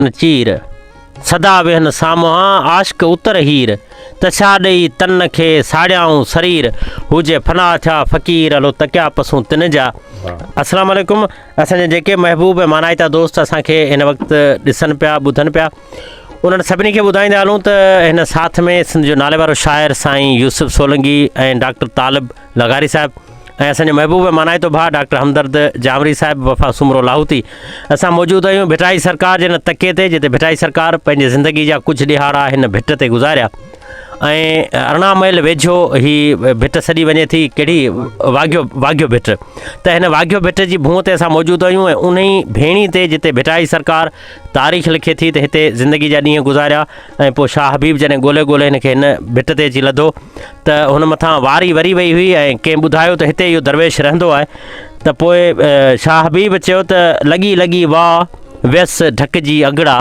ڪن چير، سدا ويهن سامهان عاشق اتر هير، ته ڇا ڏئي تن کي ساڙيائون سرير، هو جي فنا ٿيا فقير هلو تڪيا پسون تن جا. السلام عليڪم اسان جا جيڪي محبوب ۽ مانائتا دوست اسان کي هن وقت ڏسن پيا ٻڌن پيا انهن سڀني کي ٻڌائيندا هلون ته هن ساٿ ۾ سنڌ جو ناليوارو شاعر سائين يوسف سولنگي ۽ ڊاڪٽر طالب لغاري صاحب ۽ اسان جو محبوب مانائتو ڀاء ڊاڪٽر همدرد جامري صاحب وفا سومرو لاهوتي اسان موجود آهيون ڀٽائي سرڪار جي ان تڪي تي جتي ڀٽائي سرڪار پنهنجي زندگي جا ڪجهه ڏيهاڙا هن ڀٽ تي گذاريا ۽ ارڙهن ميل ويجهو هي ڀٽ سڏي وڃي ٿي ڪهڙي واگهيو واگهيو ڀٽ ته هن واگهيو ڀٽ جي ڀونء تي اسان موجود آهيون ۽ ان ئي ڀيڻي تي جتي ڀٽائي سرڪار تاريخ لکي ٿي ته هتي زندگي جا ڏينهن گذاريا ۽ پوء شاهه حبيب جڏهن ڳولهي ڳولهي هن کي هن ڀٽ تي اچي لڌو ته هن مٿان واري وري وئي هئي ۽ ڪنهن ٻڌايو ته هتي اهو درويش رهندو آهي ته پوء شاهه حبيب چيو ته لڳي لڳي واء ويس ڍڪ جي اگهڙا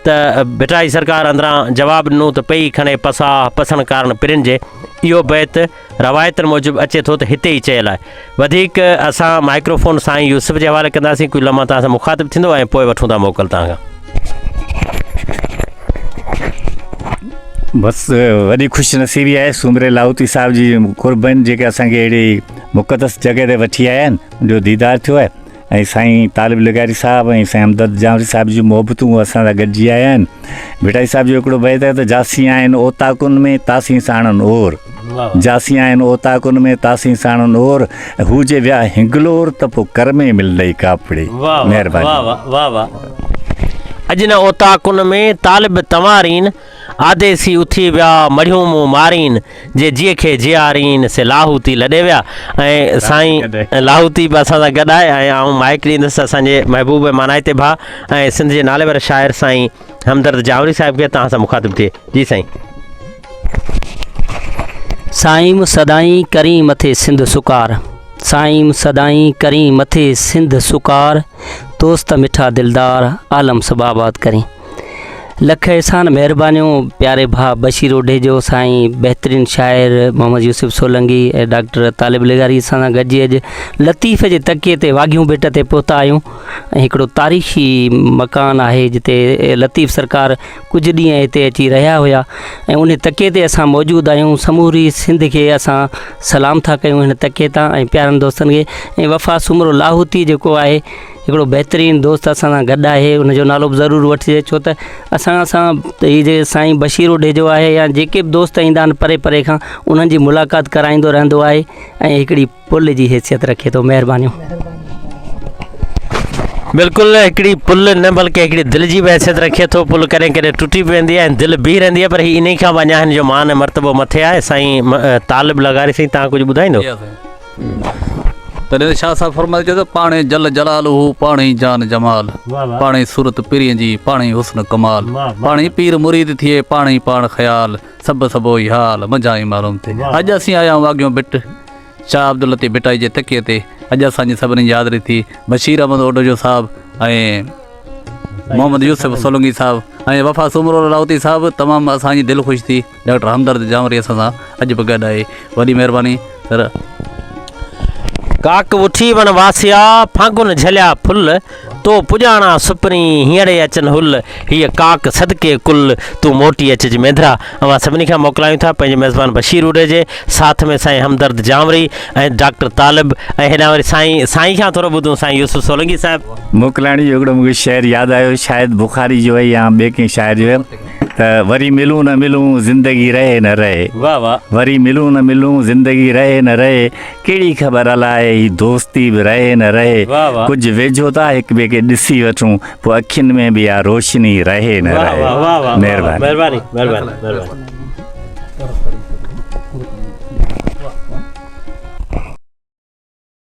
ته ڀٽائي سرڪار اندران جواب ڏنو ته پئي کڻي پساهه پسڻ ڪارڻ پرين جي اهو بيت روايتن موجب اچي ٿو ته هتي ئي چيل آهي وڌيڪ اسان مائڪرو فون سائين يوسف جي حوالي ڪنداسين ڪجهه لمحا توهان سان مخاطب ٿيندو ۽ پوء وٺون ٿا موڪل توهان کان بس وڏي خوش نصيبي آهي سومري لاهوتي صاحب جي قربن جيڪي اسان کي اهڙي مقدس جڳهه تي وٺي آيا آهن ان جو ديدار ٿيو آهي ۽ سائين طالب لغاري صاحب ۽ سائين همدرد جانوري صاحب جون محبتون اسان سان گڏجي آيا آهن ڀٽائي صاحب جو هڪڙو بيت آهي ته جاسين آهن اوطاقن ۾ تاسين ساڻن اور جاسين آهن اوطاقن ۾ تاسين ساڻن اور هو جي ويا هنگلور ته پو ڪر ۾ ملندئي ڪاپڙي مهرباني واهه واهه واهه واهه اڄ نه اوطاقن ۾ طالب تنوارين آديسي اٿي ويا، مڙهيون مون مارين، جي جيء کي جيارين، سي لاهوتي لڏي ويا ۽ سائين لاهوتي به اسان سان گڏ آهي ۽ آئون مائيڪ ڏيندس اسان جي محبوب ۽ مانائتي ڀاء ۽ سنڌ جي ناليوار شاعر سائين همدرد جاوڙي صاحب کي توهان سان مخاطب ٿئي جي سائين. سائيم سدائين ڪرين مٿي سنڌ سڪار سائيم سدائين ڪرين مٿي سنڌ سڪار دوست مٺا دلدار عالم سڀ آباد ڪرين. لک احسان مهربانيون پياري ڀاء بشير اوڍيجو سائين بهترين شاعر محمد يوسف سولنگي ۽ ڊاڪٽر طالب لغاري اسان سان گڏجي اڄ لطيف جي تڪي تي واگهيون ڀٽ تي پهتا آهيون ۽ هڪڙو تاريخي مڪان آهي جتي لطيف سرڪار ڪجهه ڏينهن هتي اچي رهيا هيا ۽ ان تڪي تي اسان موجود آهيون سموري سنڌ کي اسان سلام ٿا ڪيون هن تڪي تان ۽ پيارن دوستن کي ۽ وفا سومرو لاهوتي جيڪو آهي هڪڙو بهترين دوست اسان سان گڏ آهي ان جو نالو به ضرور وٺجي ڇو ته اسان سان هي جيڪي سائين بشير اوڍيجو آهي يا جيڪي به دوست ايندا آهن پري پري کان انهن جي ملاقات ڪرائيندو رهندو آهي ۽ هڪڙي پل جي حيثيت رکي ٿو مهربانيون بلڪل هڪڙي پل نه بلڪه هڪڙي دل جي به حيثيت رکي ٿو پل ڪڏهن ڪڏهن ٽٽي به ويندي آهي ۽ دل بيهي رهندي آهي پر هي انهي کان به اڃا هن جو مان ۽ مرتبو مٿي آهي سائين م- طالب لغاري سائين تان ڪجهه ٻڌائيندو تڏهن ته شاهه صاحب فرمائي چيو ته پاڻ ئي جل جلال هو پاڻ ئي جان جمال پاڻ ئي صورت پرين جي پاڻ ئي حسن ڪمال پاڻ ئي پير مريد ٿئي پاڻ ئي پاڻ خيال سڀ سڀ اهو ئي حال منجهان ئي معلوم ٿئي اڄ اسين آيا آهيون واگهيون ڀٽ شاهه عبداللطيف ڀٽائي جي تڪيي تي اڄ اسان جي سڀني جي حاضري ٿي بشير احمد اوڊوجو صاحب ۽ محمد يوسف سولنگي صاحب ۽ وفا سومرو لاهوتي صاحب تمام اسان جي دل خوش ٿي ڊاڪٽر همدرد جانوري اسان سان اڄ به گڏ آهي وڏي مهرباني سر. ڪاڪ وٺي وڻ واسيا، ڦاڳن جهليا ڦل، تو پڄاڻان سپرين، هينئڙي اچن هل، هيء ڪاڪ صدقي ڪل، تون موٽي اچج مينڌرا. اوهان سڀني کان موڪلايون ٿا پنهنجي ميزبان بشير روڍي جي ساٿ ۾ سائين همدرد جانوري ۽ ڊاڪٽر طالب ۽ هيڏانهن وري سائين سائين کان ٿورو ٻڌون سائين يوسف سولنگي صاحب. موڪلائڻ جو هڪڙو مون کي شعر ياد آيو شايد بخاري جو هي يا ٻئي ڪنهن شاعر جو هي. ته وري ملون نه ملون زندگي رهي نه رهي. واھ واھ وري ملون نه ملون زندگي رهي نه رهي ڪهڙي خبر الاء هي دوستي به رهي نه رهي واھ واھ. ڪجھ ويجهو ٿا هڪ ٻئي کي ڏسي وٺون پوء اکين ۾ به اها روشني رهي نه واھ رهي واھ واھ واھ مهرباني. مهرباني مهرباني مهرباني.